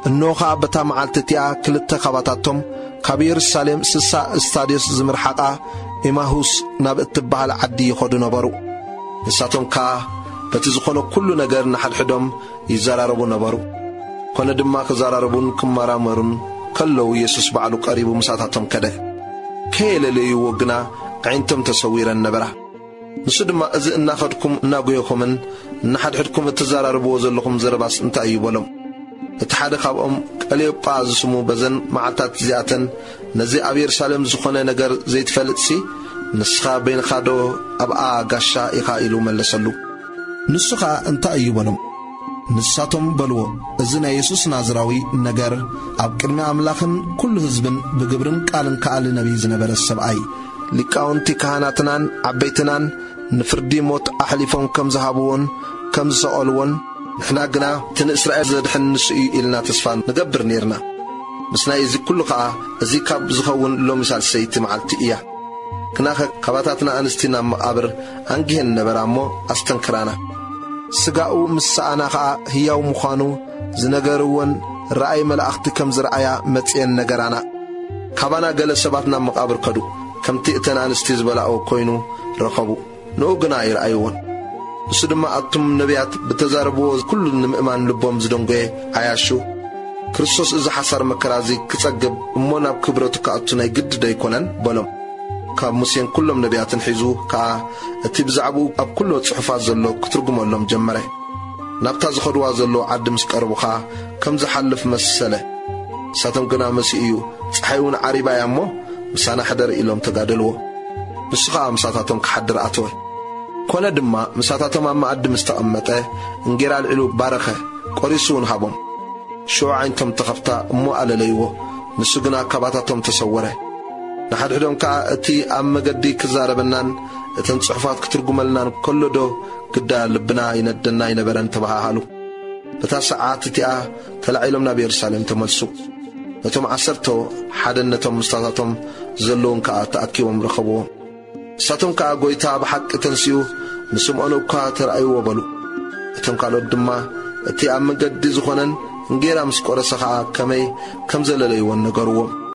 እንሆ ኸኣ በታ መዓልቲ እቲኣ ክልተ ኻባታቶም ካብ የሩሳሌም ስሳ እስታድዮስ ዝምርሓቓ ኤማሁስ ናብ እትበሃል ዓዲ ይኸዱ ነበሩ። ንሳቶም ከኣ በቲ ዝኾነ ኵሉ ነገር ንሓድሕዶም ይዘራረቡ ነበሩ። ኰነ ድማ ክዘራረቡን ክመራመሩን ከለዉ የሱስ ባዕሉ ቀሪቡ ምሳታቶም ከደ። ከየለለይዎ ግና ኣዒንቶም ተሰዊረን ነበራ። ንሱ ድማ እዚ እናኸድኩም እናጎየኹምን ንሓድሕድኩም እትዘራረብዎ ዘለኹም ዘረባስ እንታይ እዩ በሎም። እቲ ሓደ ካብኦም ቀልዮጳ ዝስሙ በዘን መዓልትታት እዚኣተን ነዚ ኣብ የሩሳሌም ዝኾነ ነገር ዘይትፈልጥሲ ንስኻ በይንኻዶ ኣብኣ ጋሻ ኢኻ ኢሉ መለሰሉ። ንሱ ኸኣ እንታይ እዩ በሎም። ንሳቶም በልዎ፣ እዚ ናይ የሱስ ናዝራዊ ነገር፣ ኣብ ቅድሚ ኣምላኽን ኵሉ ህዝብን ብግብርን ቃልን ከኣሊ ነብዪ ዝነበረ ሰብኣይ እዩ። ሊቃውንቲ ካህናትናን ዓበይትናን ንፍርዲ ሞት ኣሕሊፎም ከም ዝሃብዎን ከም ዝሰቐልዎን፣ ንሕና ግና እቲ ንእስራኤል ዘድሕን ንሱ እዩ ኢልና ተስፋ ንገብር ኔርና። ምስናይ እዚ ኵሉ ኸኣ እዚ ካብ ዝኸውን ሎሚ ሳልሰይቲ መዓልቲ እያ። ግናኸ ካባታትና ኣንስቲ ናብ መቓብር ኣንጊሀን ነበራ እሞ ኣስተንክራና። ስጋኡ ምስ ሰኣና ኸኣ ህያው ምዃኑ ዝነገርወን ራእይ መላእኽቲ ከም ዝረኣያ መጺኤን ነገራና። ካባና ገለ ሰባት ናብ መቓብር ከዱ፣ ከምቲ እተን ኣንስቲ ዝበላኦ ኮይኑ ረኸቡ፣ ንኡ ግና ኣይረኣይዎን። ንሱ ድማ ኣቱም ነብያት ብተዛረብዎ ኩሉ ንምእማን ልቦም ዝደንጎየ ዓያሹ፣ ክርስቶስ እዚ ሓሳር መከራ እዚ ክጸግብ እሞ ናብ ክብረቱ ክኣቱ ናይ ግዲ ዶ ኣይኮነን? በሎም። ካብ ሙሴን ኵሎም ነብያትን ሒዙ ከኣ እቲ ብዛዕባኡ ኣብ ኵሎ ጽሑፋት ዘሎ ክትርጕመሎም ጀመረ። ናብታ ዝኸድዋ ዘለዉ ዓዲ ምስ ቀረቡ ኸኣ ከም ዝሓልፍ መሰለ። ንሳቶም ግና መሲኡ እዩ፣ ጸሓይውን ዓሪባ እያ እሞ፣ ምሳና ሕደር ኢሎም ተጋደልዎ። ንሱ ኸኣ ምሳታቶም ክሓድር ኣተወ። ኰነ ድማ፣ ምሳታቶም ኣብ መኣዲ ምስ ተቐመጠ፣ እንጌራ ኣልዒሉ ባረኸ፣ ቈሪሱውን ሃቦም። ሽዑ ኣዒንቶም ተኸፍታ እሞ ኣለለይዎ፣ ንሱ ግና ካባታቶም ተሰወረ። ንሓድሕዶም ከኣ እቲ ኣብ መገዲ ክዛረበናን እተን ጽሑፋት ክትርጉመልናን ከሎዶ ግዳ ልብና ይነደና ኣይነበረን ተበሃሃሉ። በታ ሰዓት እቲኣ ተላዒሎም ናብ የሩሳሌም ተመልሱ። ነቶም ዓሰርቶ ሓደን ነቶም ምስታታቶም ዘለዉን ከኣ ተኣኪቦም ረኸብዎም። ንሳቶም ከኣ ጐይታ ብሓቂ ተንሲኡ ንስምዖን እኳ ተራእይዎ በሉ። እቶም ካልኦት ድማ እቲ ኣብ መገዲ ዝኾነን እንጌራ ምስ ቈረሰ ኸኣ ከመይ ከም ዘለለይዎን ነገርዎም።